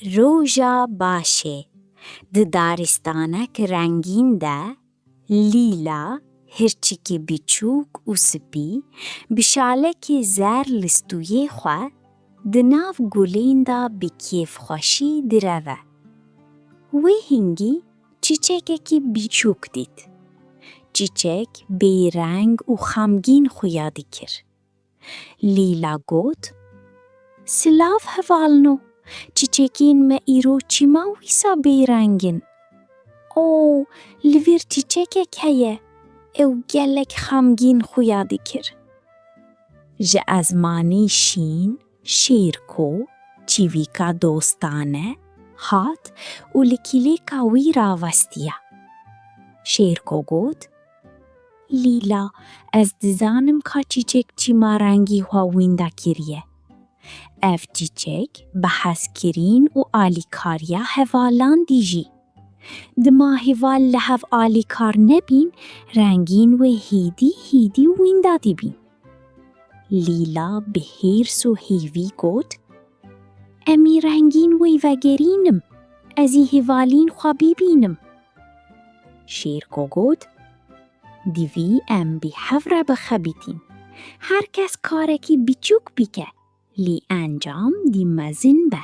Roja Başê, Di daristanek rengîn de, lîla, hirçikê biçûk û spî, bi şalekê zer li stûyê xwe, di nav gulên de bi kêfxweşî direve. Wê hingî çîçekekî biçûk dît. Çîçek bêreng û xemgîn xuya dikir. Lîla got, Silav hevalno, çîçekên me îro çima wisa bêreng in? O, li vir çîçekek heye, ew gelek xemgîn xuya dikir. Ji ezmanî şîn, şêrko, çîvîka dostane, hat û li kîlêka wî ravestiya. Şêrko got, Lîla, Ez dizanim ka çîçek çîma rengî xwe wînda kiriye. Ev çîçek bi hezkirîn û alîkariya hevalan dijî. Dima heval li hev alîkar nebîn, rengîn wê hîdî hîdî wînda dibîn. Lîla bi hêrs û hêvî got, Em ê rengîn wî vegerînim, ez ê hevalîn xwe bibînim. Şêrgo got, Divî em bi hev re bixebitîn. Her kes karekî biçûk bike, lê encam dî mezin be.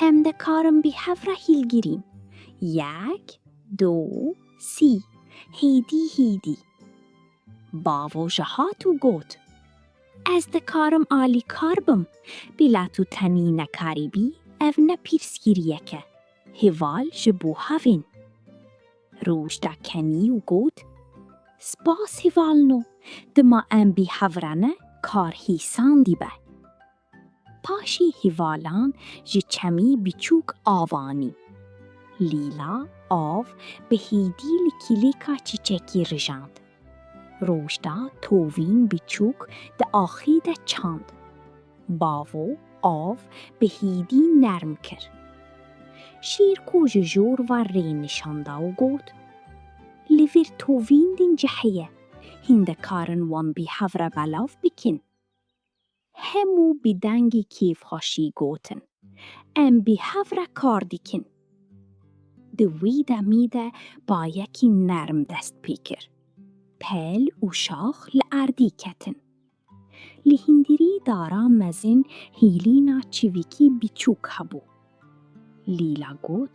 Em dikarin bi hev re hîlgirîn. Yek, do, sî. Hêdî hîdî. Bavo ji hat û got, Ez dikarim alîkar bim, bila tu tenî nekarîbî ev ne pîrsgirîyek e, hêval ji bo havên. Roj da kenî û got, Spas hêvalino, dima em bi hev re ne kar hîsandî be. Paşî hîvalan ji çemî biçûk av anî. Lîla av bi hîdî li kîlêka çîçekî rijand. Rojda tovîn biçûk di axî de çand. Bavo av bi hîdî nerm kir. Şêrko ji jor ve rê nişan da û got, Li vir tovîn din cihê ye, hîn dikarin wan bi hev re belav bikin. Hemû bi dengê kêfxweşî gotin, Em bi hev re kar dikin. Di wî demî de bayekî nerm dest pê kir. Pel û şax li erdî ketin. Li hîndirî dara mezin hîlîna çivîkî biçûk hebû. Lîla got.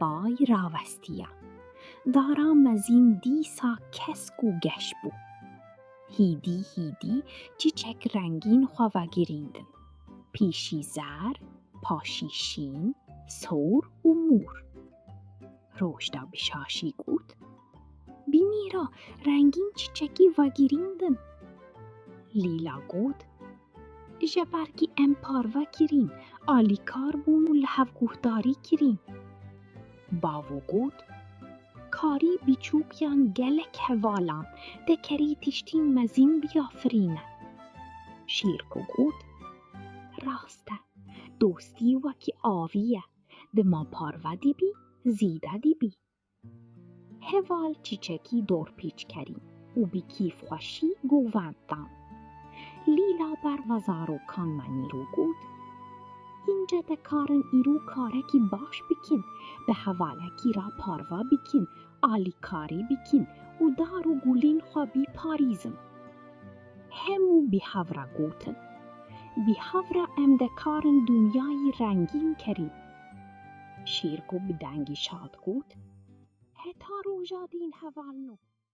Bay ravestiya. Dara mezîn dîsa kesk û geş bû. Hîdî hîdî çîçek rengîn xwe vegirîndin. Pîşî zer, paşî şîn, sor û mor. Roşda bi şaşî got. Bînî ra rengîn çîçekî vegîrîn din. Lîla got, Ji ber kî em parve kirîn, alîkar bûn û li hev guhdarî kirîn. Bavo got, Karî bîçûkiyan gelek hevalan tê kerî tiştîn mezîn biafirîne. Şîrko got, Rast e, dostî wekî avî ye, dima parve dîbî, zîde dîbî. Heval çîçekî dorpêçkerî û bi kêfxweşî govend dan. Lîla ber ve zarokan me nîro got, Înce te karin îro karekî baş bikin, bi hevalekî re parve bikin, alîkarî bikin û dar û gulên xwe bîparîzin. Hemû bi hev re gotin, Bi hev re em dikarin dinyayî rengîn kerîn. Şîrgo bi dengî şad got, Heta roja dîn hevalno.